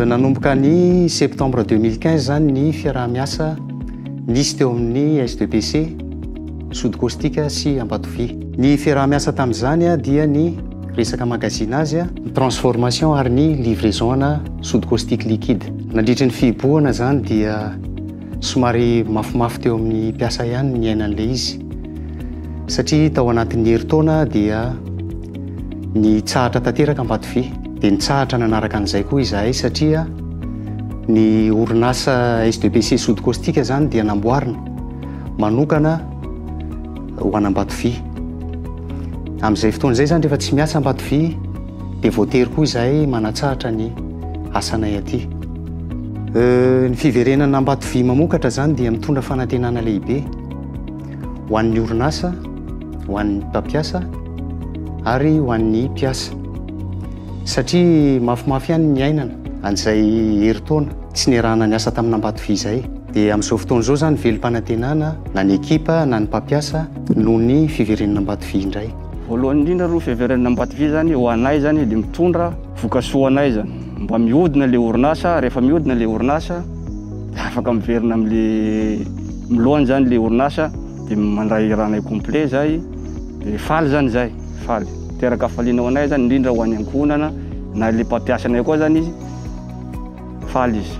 nanomboka ny septembre 2015 zany ny fiaraha-miasa nisy teo amin'ny sdpc sodikostika sy ambatovia ny fiaraha-miasa tamin'izany a dia ny resaka magazina azy a ny transformation ary ny livraison ana sodikostika liquide nandritry ny fihibohana zany dia Somary mafimafy teo amin'ny mpiasa ihany ny ainan'ilay izy, satria tao anatin'ny herintaona dia nitsahatra tanteraka Ambatovy, dia nitsahatra nanaraka an'izay koa izahay satria ny orinasa SDPC Sody Caustique izany dia namboarina manokana ho an'Ambatovy. Amin'izay fotoana izay izany rehefa tsy miasa Ambatovy, Dia voatery koa izahay manatsahatra ny asanay aty. Ny fiverenana Ambatovy mamokatra izany dia mitondra fanantenana lehibe ho an'ny orinasa, ho an'ny mpampiasa ary ho an'ny mpiasa. Satria mafimafy ihany ny iainana an'izay herintaona tsy niarahana niasa tamin'Ambatovy izay. Dia amin'izao fotoana izao izany velom-panantenana na ny ekipa na ny mpampiasa noho ny fiverenana Ambatovy indray. Voalohany indrindra aloha fiheveran'ny Ambatovy zany ho anay zany dia mitondra vokasoa anay zany. Mba mihodina le orinasa, rehefa mihodina le orinasa dia afaka miverina amle milohany zany le orinasa dia mandray hiranay complet zay dia faly zany zay, faly. Miteraka hafaliana ho anay zany indrindra ho any ankohonana na le mpampiasa anay koa zany izy faly izy.